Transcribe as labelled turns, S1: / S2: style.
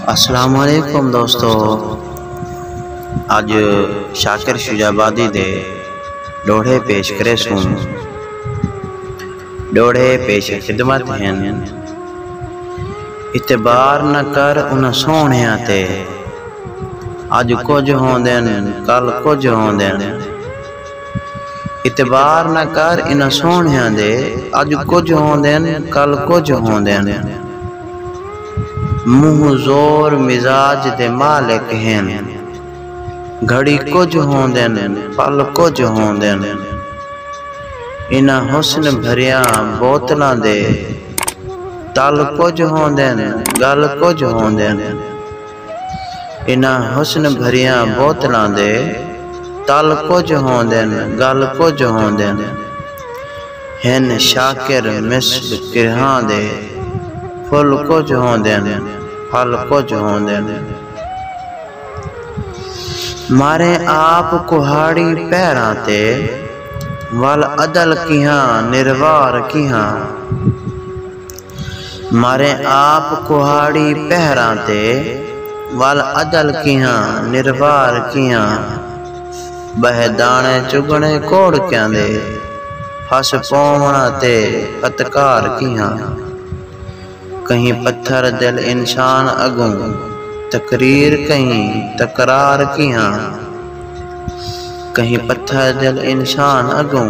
S1: السلام علیکم دوستو اج شاکر شجاع آبادی دے ڈوہڑے پیش کرے سوں ڈوہڑے پیش خدمت ہیں اعتبار نہ کر انہاں سوہنیاں تے اج کچھ ہوندن کل کچھ ہوندن اعتبار نہ کر انہاں سوہݨیاں دے اڄ کجھ ہوندن کل کجھ ہوندن منہ زور مزاج دے مالک ہن گھڑی کجھ ہوندن پل کجھ ہوندن انہاں حسن بھریاں بوتلاں دے تل کجھ ہوندن ڳل کجھ ہوندن۔ انہاں حسن بھریاں بوتلاں دے تل کجھ ہوندن ڳل کجھ ہوندن ہن شاکر مصر کرھاں دے پھل کجھ ہوندن پھل کجھ ہوندن ماریں آپ کہاڑی پیراں تے ول عدل کیہاں نروار کیہاں۔ ماریں آپ کوہاڑی پہراں تے ول عدل کیہاں نروار کیہاں ٻہے داݨے چڳݨے کوڑکیاں دے پھس پووݨا تے پتکار کیہاں کہیں پتھر دل انسان اڳوں تقریر کہیں تکرار کیہاں کہیں پتھر دل انسان اڳوں